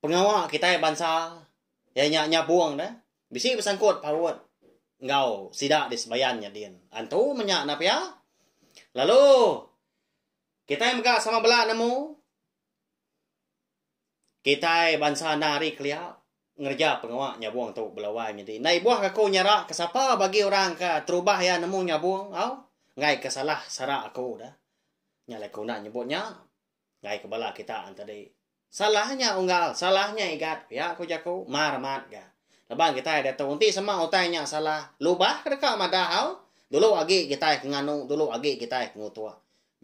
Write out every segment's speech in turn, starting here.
pengawa kitai bansa iya nya nyabong deh bisi besangkut paut enggau sida di Sebayan nya din. Antu menya enda pia lalu kitai mega sama bela nemu kitai bansa enda hari kelia ngereja pengawa nyabong tu belawai nya din. Enda ibuh aku nyara ke sapa bagi orang ke terubah iya nemu nyabong au enggai ke salah sara aku deh. Nya alai aku enda nyebut nya. Enggai ke bala kita enti di. Salah nya unggal, salah nya igat, pia ku jaku Mar amat ga. Laban kitai diatu enti sema utai nya salah, lubah ke deka madah au? Dulu agi kitai ke nganu, dulu agi kitai ke ngutuk.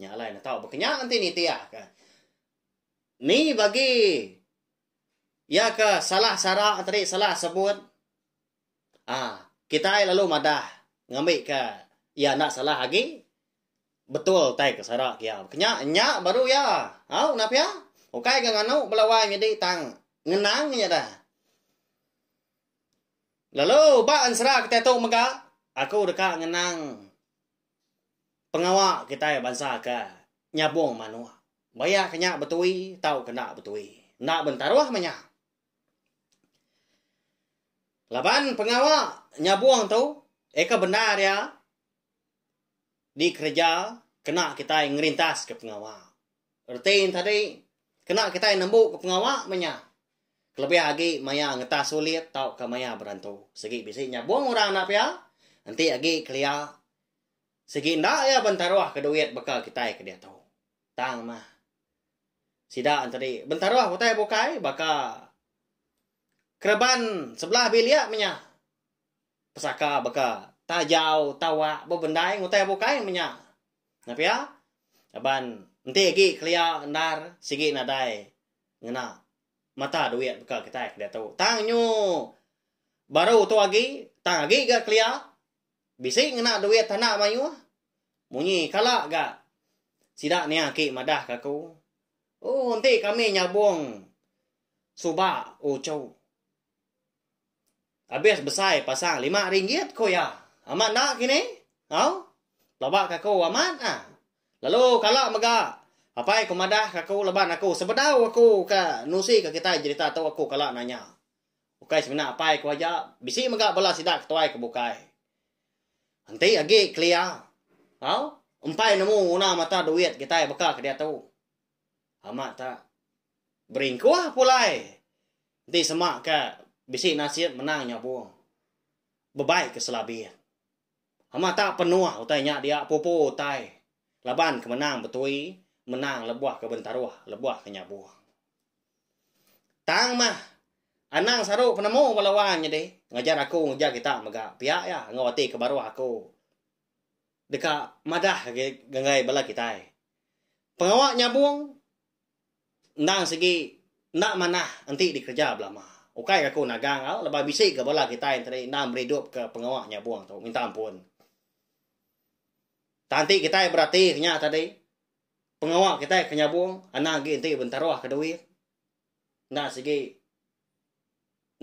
Nya alai ne tau baka nya enti nitih ka. Ni bagi iya ke salah sara tadi, salah sebut. Aa kitai lalu madah ngambika iya enda salah agi betul tai ke sara ke iya. Kenya nya baru iya. Au nah pia. Ukai ga nganu bala wai nyadi tang ngenang nya dah. Lalu ba ensera kitai tu mega aku deka ngenang pengawa kitai bansa ke nyabong manok. Baya ke nya betui tauka enda betui. Enda bentaruh mah nya. Laban pengawa nyabung tu eka bendar iya dikereja kena kitai ngerintaska pengawa. Reti ne tadi kena kitai nembuka pengawa meh nya kelebih agi maya ngetas sulit tauka maya berantu. Sigi bisi nyabung orang enda pia enti agi kelia sigi enda iya bentaruhka duit baka kitai ke diatu. Tang mah. Sida enteri bentaruh utai bukai baka kereban sebelah bilik menya pesaka baka tajau, tawak, bebendai ngutai bukai menya. Nah pia aban enti agi kelia endar sigi nadai ngena mata duit baka kitai ke diatu. Tang nyu baru tu agi tang agi ga kelia. Bisi ngena duit tanda mayuh. Munyi kala ga sida nia aki madah ka aku. Oh enti kami nyabong suba uchu. Abis besai pasang lima ringgit ku iya. Amat enda kini? Au. Pelaba ka aku amat ah. Lalu kala mega apai ku madah ka aku laban aku sebedau aku ka nusi ka kitai jerita tu aku kala nanya. Ukai semina apai ku aja, bisi mega bala sida ke tuai ke bukai. Enti agi kelia, tau, empai nemu nguna mata duit kitai beka ke diatu. Amat tak. Beringkuh pulai. Enti sema ke bisi nasit menang nyabung. Bebai ke selabit. Amat tak penuh utai nya dia pupu utai laban ke menang betui menang lebuh ke bentaruh lebuh ke nyabung. Tang mah anang saru penemu bala wang nyadi ngajar aku ngereja kita mega pia iya enggau ati ke baruh aku deka madah agi ngagai bala kitai pengawa nyabung Endang sigi enda manah enti dikereja belama. Ukai ke aku nagang au laban bisi ke bala kitai enti tadi endang meri idup ke pengawa nyabong tu minta ampun. Tang enti kitai berati ke nya tadi pengawa kitai ke nyabong anang agi enti bentaruh ke duit. Endang sigi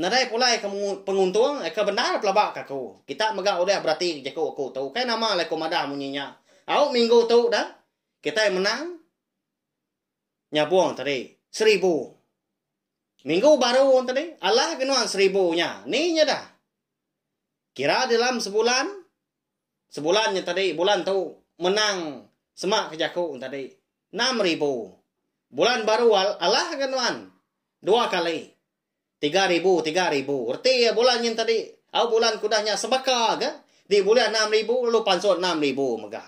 nadai pulai ke penguntung eh ke bendar pelaba ke aku. Kita mega udah berati jaku aku tu. Ukai nama alai aku madah munyi nya. Au minggu tu dah kitai menang nyabung tadi seribu minggu baru tadi alah ke nuan seribu nya ni nyadah kira dalam sebulan sebulan nya tadi bulan tu menang semak ke jaku tadi enam ribu bulan baru alah ke nuan dua kali Tiga ribu, tiga ribu. Reti iya bulan nyin tadi. Au bulan ke udah nya sebaka ke di bulih enam ribu lalu pansut enam ribu mega.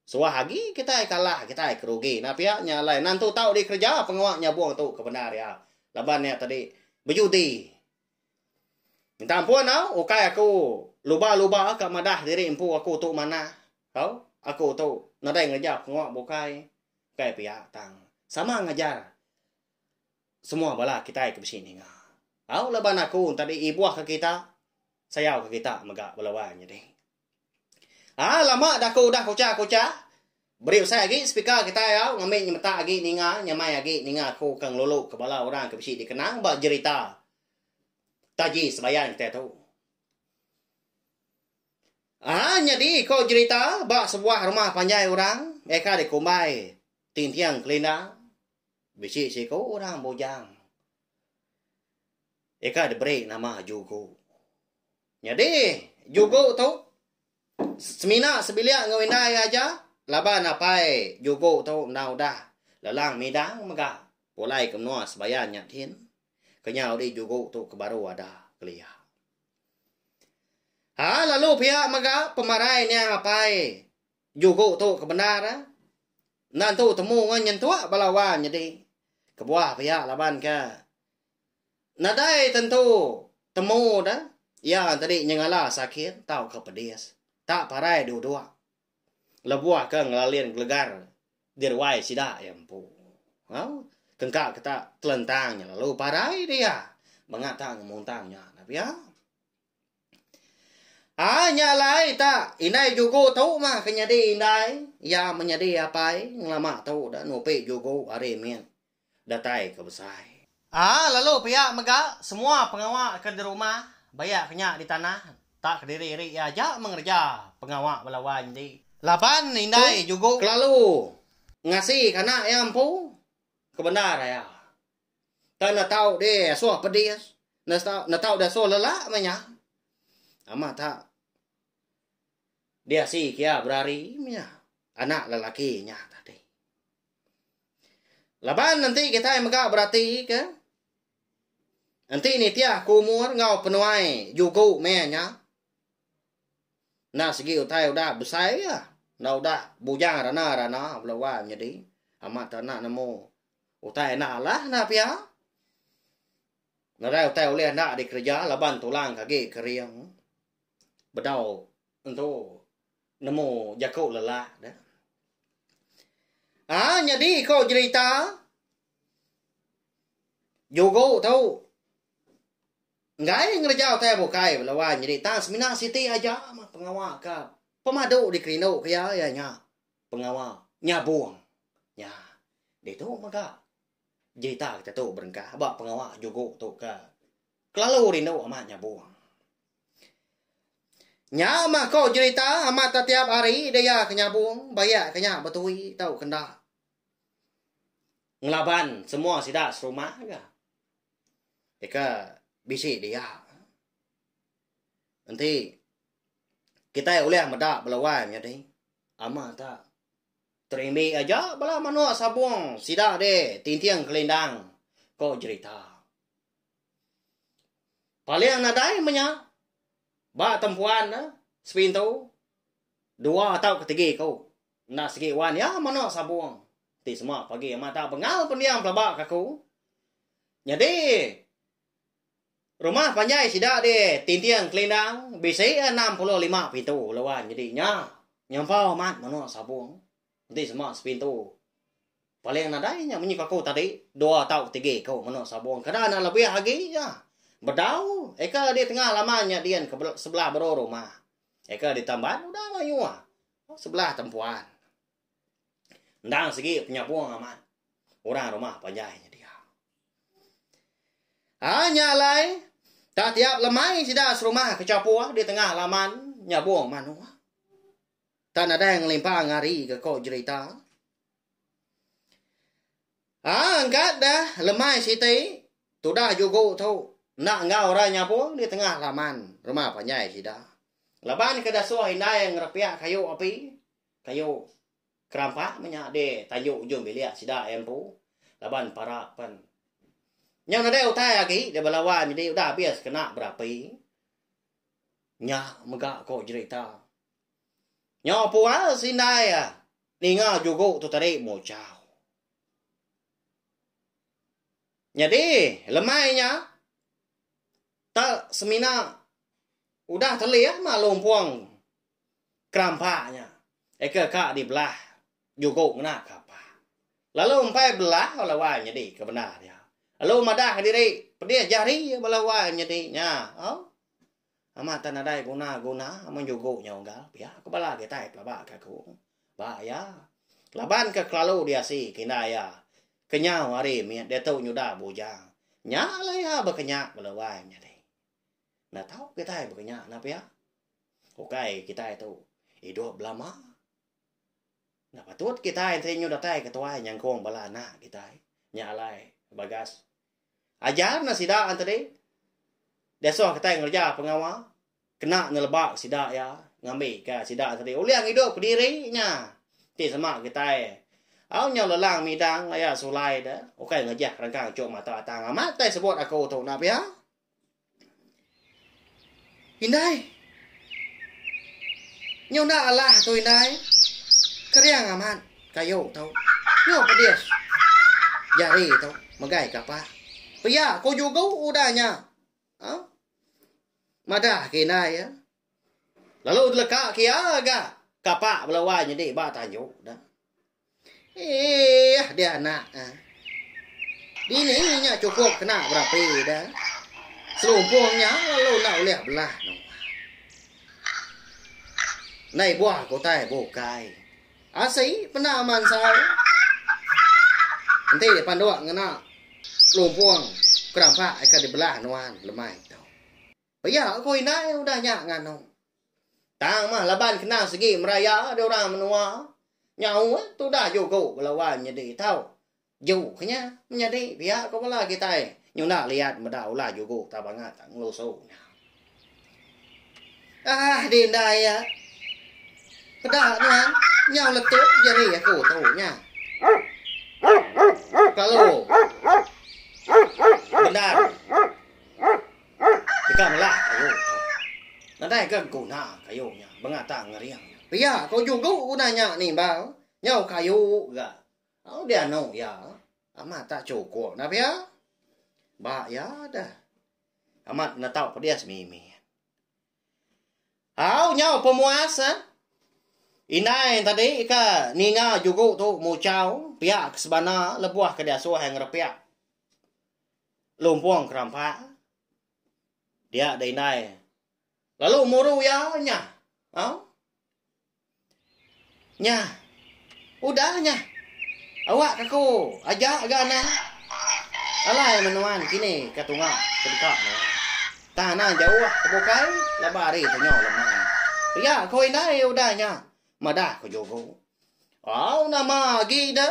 Suah agi kitai kalah, kitai ke rugi. Nah pia nya alai nan tu tau dikereja pengawa nyabung tu ke bendar iya. Laban iya tadi bejudi. Minta ampun au, ukai aku luba-luba ka madah diri empu aku tu manah. Au, aku tu nadai ngereja pengawa bukai. Ukai pia tang. Sama ngajar. Semua bala kitai ke bisi ninga. Tau laban aku enti di ibuh ka kita sayau ka kita mega bala wang nyadi. Haa lama da aku udah kucha kucha beri usai agi speaker kitai au ngambi nyemetak agi ninga nyamai agi ninga aku ke ngelulu ke bala orang ke bisi dikenang ba jerita taji sebayan kitai tu. Haa nyadi ko jerita ba sebuah rumah panjai orang meh ka dikumbai tinting kelinda. Bisi siku orang bujang. Ika diberi nama Jugu. Nyadi, Jugu tu semina sebilik enggau indai iya aja laban apai Jugu tu enda udah lelang midang mega pulai ke menua Sebayan nya din. Kenyau di Jugu tu ke baru ada kelia. Ha lalu pia mega pemarai niang apai Juku tu ke bendar enda entu temu enggau nyentuk bala wang nyadi kebuah pia laban ke nadai tentu temu da iya tadi nyengala sakit tauka pedis tak parai duduk lebuh ke ngelalin gelegar di ruai sida iya empu. Au kengka ke tak telentang nya lalu parai dia mengata ngemuntang nya pia. Haa nya alai ta indai jugo tu mah ke nyadi indai iya menyadi apai ngelama tu da nupi jugo ari mit datai ke besai. Haa lalu pia mega semua pengawa ke di rumah baia ke nya di tanah tak kediri iri iya aja mengereja pengawa bala wai nyadi laban indai jugo kelalu ngasika anak iya empu ke bendar iya. Tang netau deh asoh pedis. Netau deh asoh lelak meh nya. Amat ta. Diasi kia berari meh nya. Anak lelaki nya tadi. Laban enti kitai mega berati ke. Enti nitih ke umur enggau penuai juku meh nya. Enda segi utai udah besai ke. Enda udah bujang rana-rana bela wai menyedi. Amat ta nak nemu Utai enda alah enda pia. Nadai utai ulih enda dikereja laban tulang ke agi kering. Bedau entu nemu jaku lelak deh. Ah nyadi ko jerita jugo tu enggai ngereja utai bukai bela wan nyadi tang semina siti aja pengawa ka pemadu dikerindu ke iya iya nya. pengawa nyabung nya. Ditu mega jerita kita tu berengkah ba pengawa jugo tu ke kelalu rindu amat nyabung. Nya mah ko jerita amat tetiap hari dia ke nyabung bayak ke nya betui tau ke enda. Ngelaban semua sida serumah ga. Deka bisi dia. Enti Kitai ulih meda bala wai nyadi ama ta terimbi aja bala manuk sabung sida deh tinting kelindang ko jerita. Paling nadai menya ba tempuan ne sepintu dua tau ke tigi ku enda sigi wan iya manuk sabung ti semua pagi ama ta bengal pendiam pelaba ka ku. Nyadi Rumah panjai sida di Tinting Kelindang bisi enam puluh lima pintu lalu nyadi nya nyempau amat menua Sabong enti sema sepintu. Paling nadai nya munyi aku tadi dua tau tiga ku menua Sabong kada enda lebih agi nya. Bedau eka di tengah laman nya din ke sebelah baru rumah. Eka di tamban udah mayuh sebelah tempuan. Endang sigi penyabung amat orang rumah panjai nyedia. Ha nya alai tak tiap lemai sida serumah ke chapur di tengah laman nyabung manuk. Tak nadai ngelimpang hari ke ko jerita. Ha engkat dah lemai siti tudah jugu tu enda enggau orang nyabung di tengah laman rumah panjai sida. Laban ke dasuh indai ngerepiak kayu api Kayu kerampak meh nya deh tayu ujung bilik sida iya empu laban para pen. Nyau nadai utai agi deh bala wai nyadi udah abis kena berapi. Nya mega ko jerita. Nyau pual si indai iya ninga jugu tu tadi muchau. Nyadi lemai nya tak semina udah telih mah lumpung. keramba nya eka ka dibelah jugo ngena kapa. Lalu empai belah bala wai nyedi ke bendar dia. Lalu madah diri pedih jari bala wai nyedi nya. Au. Amat tak nadai guna-guna amun jugo nya unggal pia ku bala kitai pelaba ke aku. Ba iya. Laban ke kelalu diasi ke inda iya. Kenyau hari mit diatu nyuda bujang. Nya lah iya bekenyak bala wai nyadi. Enda tau kitai baka nya nah pia. Ukai kitai tu idup belama. Enda patut kitai enti nyu datai ke tuai nyangkung bala anak kitai. Nya alai Bagas. Ajar neh sida tadi. Diasuh kitai ngereja pengawa kena neleba sida iya ngambika sida tadi ulih ngidup kediri nya. Ti sama kitai au nyau lelang midang laya sulai de ukai ngejah rengkang chuk mata atang amat kitai sebut aku tu nah pia. Indai. Nyu enda alah tu indai. Kering amat kayu tu. Nyu pedis jari tu megai ka pak. Pia ku jugu udah nya. Madah ke indai. Lalu deleka ke iya ga kapa bala wai nyedi ba tanju ne. Eeh dia anak ah. Dini nya cukup kena berapi da. Selumpung nya lalu enda ulih belah no. Nai buah kutai bukai. Asi pena mansai. Enti panduk ngena lumpung kerampak ika dibelah nuan lemai. Pia ku indai udah nya nganong. Tang mah laban kena segi meraya deh orang menua. Nyau eh tudah jugo bala wai nyedi tau. Ju ke nya menyadi pia ku bala kitai nyunda liat meda ulah jugo tau bangat tang ngelusu nya. Ah di indai iya. Peda nuan nyau letup jeri aku tu nya. Kelalu. Bendar. Deka ngelak kayu nya. Nadai ga guna kayu nya bengata ngering nya. Pia ko jugu guna nya nimbal nyau kayu ga au dianu iya amat tak chukup nah pia. Ba iya deh amat netau pedis mimit. Au nyau pemuas eh. Indai tadi ka ninga jugu tu muchau pia ke sebana lebuh ke diasuh iya ngerepiak. Lumpong kerampak dia da indai lalu muru iya nyah. Au. Nyah. Udah nyah. Awak kaku aja ga anak. Alai menuan kini ke tunga ke deka nuan. Tanah jauh ke bukai laba hari tu nyo lemai. Iya ko indai udah nyah. Madah ko jugo. Au nama agi de.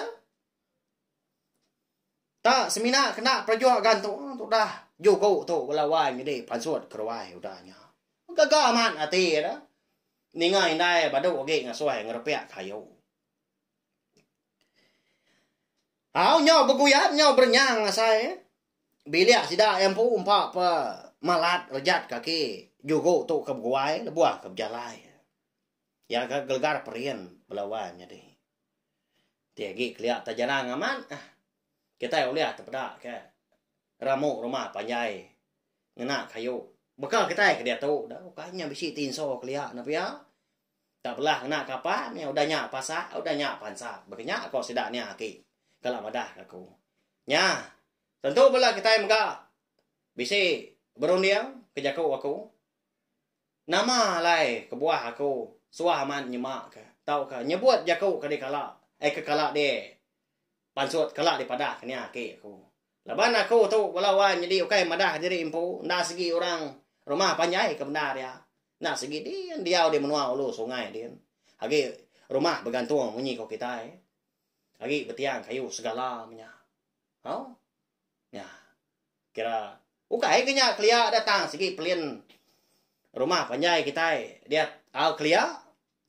Ta semina kena perajuk gan tu udah juku tu bala wai nyadi pansut keruai udah nya. Gaga amat ati da ninga indai badu agi ngasoi ngerepek kayu. Au nyau beguyap nyau berenyang asai bilik sida iya empu empa pa malat rejat kaki juku tu ke beguai lebuh ke bejalai. Iya ga gelegar perin bela wai nyadi. Ti agi kelia ta jarang amat ah. Kitai ulih tepeda ke ramu rumah panjai ngena kayu. Baka kitai ke diatu da ukai nya bisi ti inso kelia enda pia. Tak belah ngena kapa nya udah nya pasa udah nya pansa baka nya ko sida nia aki kala madah ka aku. Nya tentu bela kitai mega bisi berunding ke jaku aku. Nama alai kebuah aku suah amat nyema ke tauka nyebut jaku ke dikala ai ke kala di pansut kala dipadah ke nya aki aku. Laban aku tu bala wan nyadi ukai madah diri empu enda sigi orang rumah panjai ke bendar iya. Enda sigi din diau di menua ulu sungai din. Agi rumah begantung munyi ko kitai. Agi betiang kayu segala menya. Au. Nya. Kira ukai ke nya kelia da tang sigi pelin rumah panjai kitai diat au kelia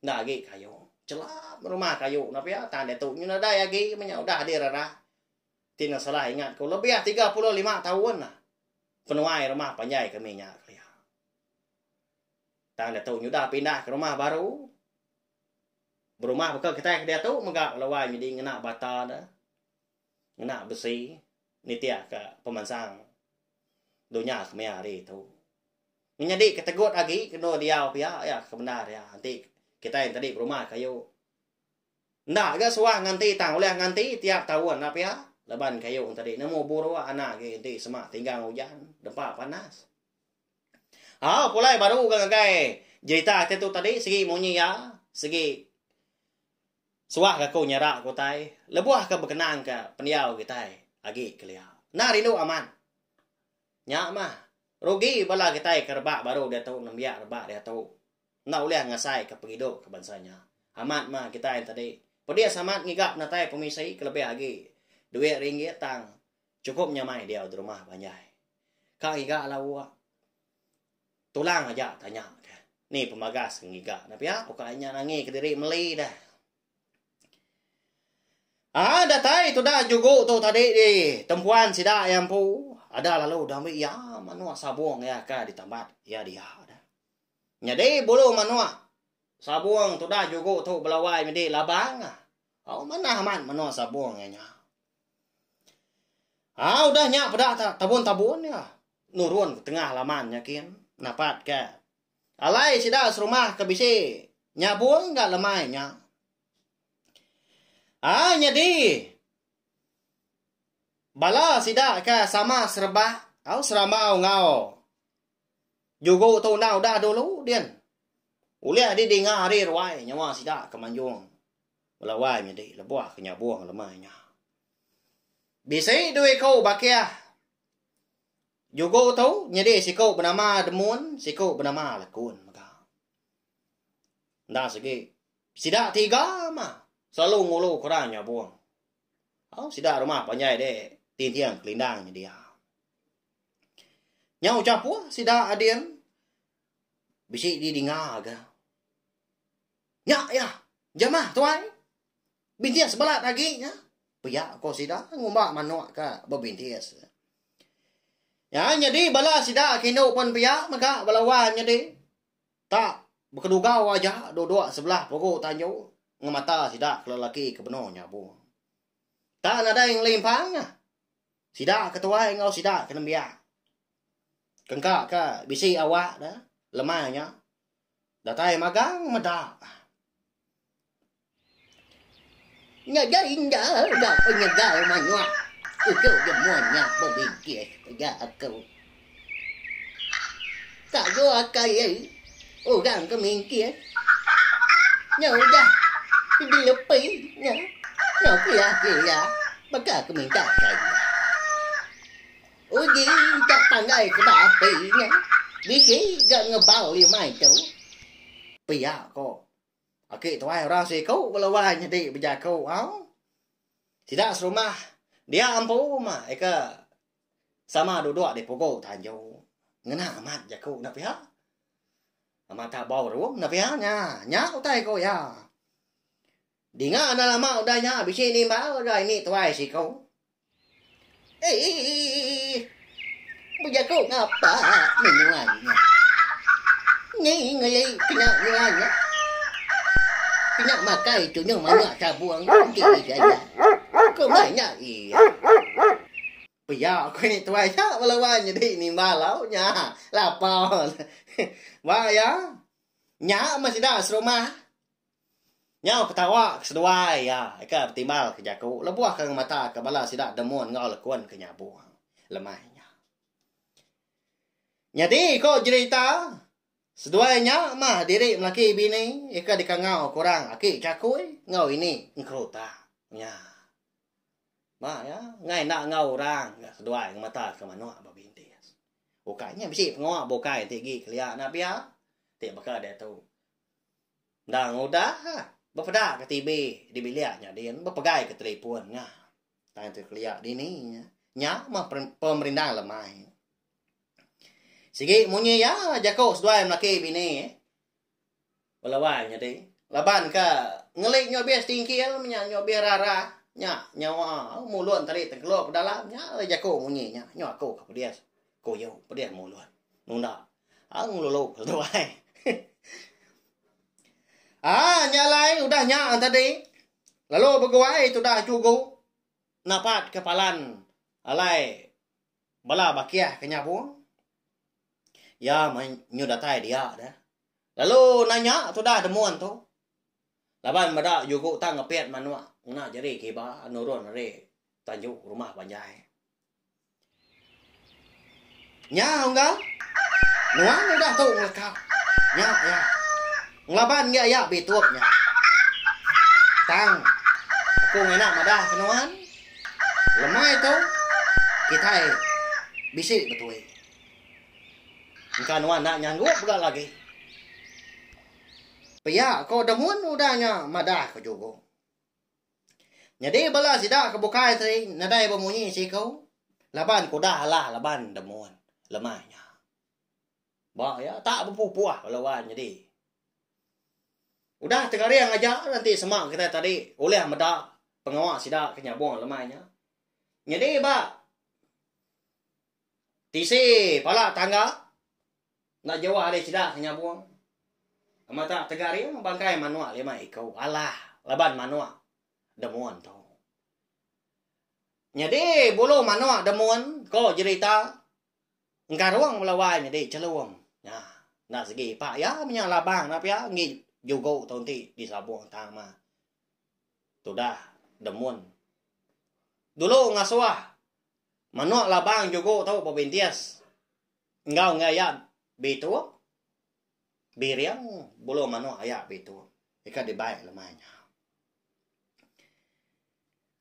enda agi kayu. Chelam rumah kayu enda pia tang diatu nyu nadai agi menya udah di rerah. Ti nang salah ingat ku lebih tiga puluh lima taun lah penuai rumah panjai kami nya kelia. Tang diatu nyu udah pindah ke rumah baru. Berumah baka kitai ke diatu mega laluai nyadi ngena bata ne. ngena besi nitihka pemansang dunya kemaya hari tu. Menyadi ke tegut agi endur diau pia iya ke bendar iya enti kitai enti tadi berumah kayu enda ga suah nganti tang ulih nganti tiap taun enda pia laban kayu enti tadi nemu buruk anak agi enti sema tinggang ujan dempa panas. Au pulai baru ga ngagai jerita ati tu tadi sigi munyi iya sigi Suah ke aku nyara ke utai lebuh ke bekenang ke pendiau kitai agi kelia. Enda rindu amat. Nya mah. Rugi bala kitai ke rebak baru diatu nembiak rebak diatu. Enda ulih ngasai ke pengidup ke bansa nya. Amat mah kitai entadi. Pedis amat ngiga penatai pemisi ke lebih agi duit ringgit tang chukup nyamai diau di rumah panjai. Ka ngiga lawu. Tulang aja tanya ke ni pemagas ke ngiga ne pia uka inya nangi kediri meli deh. Ah datai tudah jugu tu tadi di tempuan sida iya empu ada lalu udah ambi iya manuk sabung iya ka ditambat iya dia deh. Nyadi bulu manuk sabung tudah jugu tu belawai medi labang. Au manah amat manuk sabung iya nya. Haa udah nya peda ta tabun-tabun nya nurun ke tengah laman nya kin napat ka alai sida serumah ke bisi nyabung ga lemai nya. Haa nyadi bala sida ka sama sereba au serambau enggau jugo tu enda udah dulu din ulih di dinga ari ruai nyawa sida ke manjung Belawai nyadi lebuh ke nyabung lemai nya. Bisi dua iku bakih jugo tu nyadi siku benama Demun, siku benama Lekun mega. Enda segi sida tiga mah selalu ngulu ke orang nyabung. Au sida rumah panjai dek tinting kelindang nya dia. Nya ucap puh sida ading bisi di dinga ga. Nya iya, jemah tuai. Bintis belat agi nya. Pia ko sida ngumba manok ka bebintis. Ya nyadi bala sida kinu pun pia mega bala wang nyadi. Ta bekedugau aja duduk sebelah pugu tanju ngemata sida ke lelaki ke benung nyabu. Ta nadai ngelimpang ah. Sida ke tuai enggau sida ke nembiak. Kengka ka bisi awak da lemai nya. Datai magang meda. Nya ja inda ga penyegal manyuak uchu je mun nya bebijih ja aku. Tak jo akai ye orang ke mingkir. Nya udah di lepi nya no pia pia baka ke minta kai. Uji ga pandai ke ba api nya bisi ga ngebau limai tu. Pia ko. Aki tuai orang siku bela wai nyadi bejaku au. Sida serumah dia empu uma ika sama duduk di pugu tanju. Ngena amat jaku enda pia. Amat tabau ruong enda pia nya. Nya utai ko iya. Dinga enda lama udah nya bisi nimbal udah ini tuai siko. Eii. Bejaku ngapa menyuai nya. Ni ngelei kena nyuai nya. Kena makai tunyuh manak tabung enti digayak. Komai nya iya. Pia ko ini tuai nya bala wai nyedi nimbal au nya lapar. Ba iya. Nya meh sida serumah. Nyau ketawa ke seduai iya ke betimbal ke jaku lebuh ke ngemata ke bala sida demun enggau lekun ke nyabung lemai nya. Nyadi ko jerita, seduai nya mah diri melaki bini ke dikangau ke orang aki Chakui enggau ini Engkeruta nya. Ba iya, enggai enda enggau orang ga seduai ngemata ke manuk ba Bindis. Ukai nya bisi pengawa bukai enti agi kelia enda pia ti baka diatu. Endang udah, bepeda ke TV di bilik nya din, bepegai ke telefon nya. Tang tu kelia dini nya. Nya meh pemerindang lemai. Sigi munyi iya jaku seduai melaki bini ba Lawai nya ti. Laban ke ngeli nya obis tingkil meh nya, nya obis rarah, nya nyawa mulut tali tengkelop dalam nya alai jaku munyi nya. Nya aku ke pedis. Ku yu pedih mulut nunda au ngelulu lalu tu ai. Aa nya alai udah nya tadi lalu beguai tudah jugu napat ke palan alai bala bakih ke nyabong. Iya meh nyu datai dia de lalu nanya tudah demun tu laban meda jugu tang ngepit manok ngena jeri kiba nurun ari tanju rumah panjai. Nya unggal nuan udah tu ngeleka. Nya iya. Ngelaban ngi aya bitup nya. Tang aku ngena madah ke nuan lemai tu kitai bisi betui. Engka nuan enda nyanggup ga lagi. Pia ko Demon udah nya madah ko Jugong. Nyadi bala sida ke bukai ti nadai bemunyi siku laban ke udah alah laban demun lemai nya. Ba iya tak bepupuh bala wan nyadi. Udah tengaring aja lah enti sema kitai tadi ulih meda pengawa sida ke nyabung lemai nya. Nyadi ba tisi pala tangga Enda jauh ari sida ke nyabung amat tak tegaring bangkai manok lima iku alah laban manok demun tu. Nyadi bulu manok demun ko jerita engkarung bela wai nyadi chelum nya enda segi ipak iya menya labang enda pia enggi jugo tu enti di sabung tang ma tudah demun. Dulu ngasuh manok labang jugo tu bebintis. Enggau enggai iya bitung, biring bulu manuk iya bitung ika dibai lemai nya.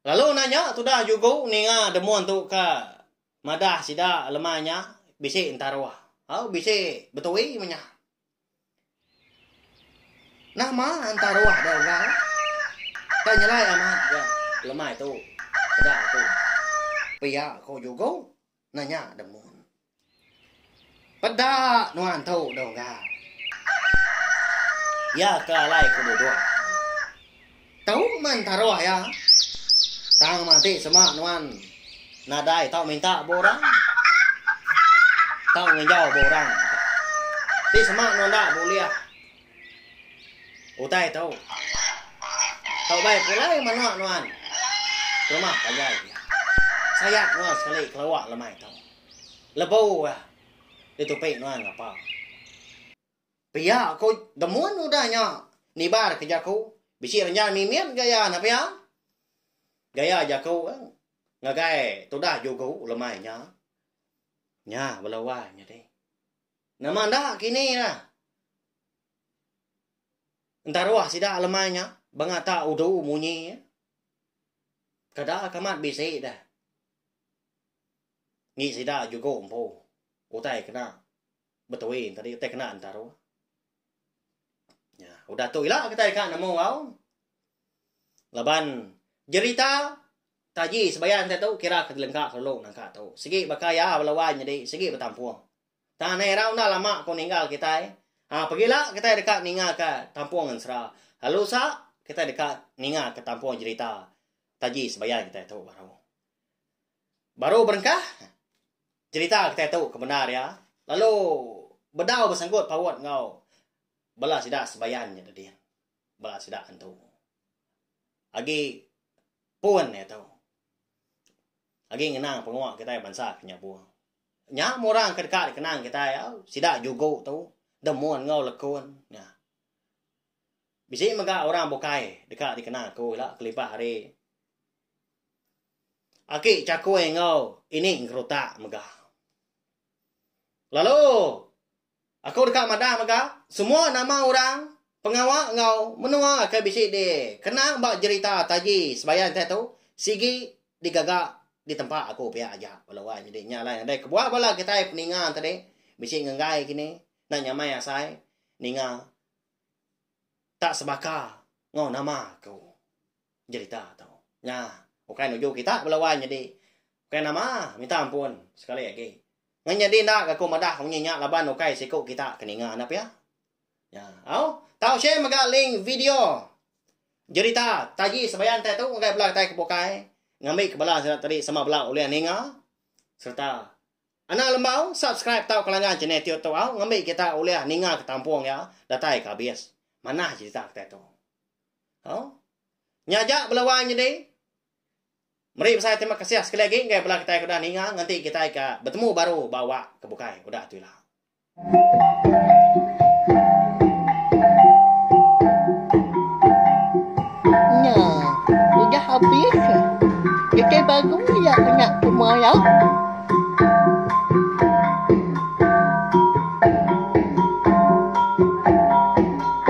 Lalu enda nya tudah jugu ninga demun tu ka madah sida lemai nya bisi entaruh au bisi betui menya. Nama entah ruah dia orang kai nyelai amat ga lemai tu peda aku pia ko jugo nanya demun peda nuan tu dau ga ia ke alai ku dudok. Tau man taroh iya. Tang mati sema nuan nadai tau minta ba orang. Tau nginjau ba orang. Ti sema nuan enda bulih. Utai tu. Tau bai pulai menua nuan ke rumah panjai iya. Sayat nuan sekali keluar lemai tu. Lebu iya ditupi nuan ngapa. Pia ko demun udah nya nibar ke jaku bisi renjang mimit gaya ne pia. Gaya jaku ngagai tudah jugu lemai nya. Nya bala wai nyadi. Nama enda kini ira entaruh sida lemai nya bengata udu munyi kada ke amat bisi deh. Ngi sida jugu empu utai kena Between tadi utai kena antara. Ya, udah tu ila kita ka nemu au. Laban jerita taji sebayan kita tu kira ke lengka kelu nangka tu. Segi baka ya lawan jadi segi betampung. Tang nai rau dah lama ko ninggal kita. Eh. Ha, pegila kita dekat ninga ke tampung ensra. Lalu sa kita dekat ninga ke tampung jerita taji sebayan kita tu baru. Baru berengkah jerita kitai tu ke bendar iya lalu bedau besenggut paut enggau bala sida sebayan nya tadi. Bala sida antu. Agi pun iya tu. Agi ngenang pengua kitai bansa ke nya buh. Nya meh orang ke deka dikenang kitai au sida jugu tu Demun enggau Lekun nya. Bisi mega orang bukai deka dikenang aku ila kelibah ari. Aki Chakui enggau Ini Ngeruta mega. Lalu aku deka madah mega semua nama orang pengawa enggau menua ke bisi dikenang ba jerita taji Sebayan tai tu sigi digaga di tempa aku pia aja lalu ai nyadi nya alai nadai kebuah bala kitai peninga tadi bisi ngegai kini enda nyamai asai ninga tak sebaka enggau nama aku. Jerita tu nya ukai nuju kita bala wai nyadi ukai nama minta ampun sekali agi. Ngan nyadi enda ga aku madah munyi nya laban ukai siku kita ke ninga nya pia. Nya au tau share mega link video jerita taji sebayan tai tu ngagai bala kitai ke bukai ngambi ke bala sida tadi sama bala ulih ninga serta Anang Lembau subscribe tau kelangan channel tiut tu au ngambi kita ulih ninga ke tampung iya datai ke abis. Manah jerita kitai tu. Hau. Nya aja bela wai nyadi. Meri besai terima kasih sekali agi enggai bela kitai ke udah ninga ngenti kitai ka betemu baru ba awak ke bukai udah tu ila. Nya udah habis nya. Kitai baru ya anak semua ya.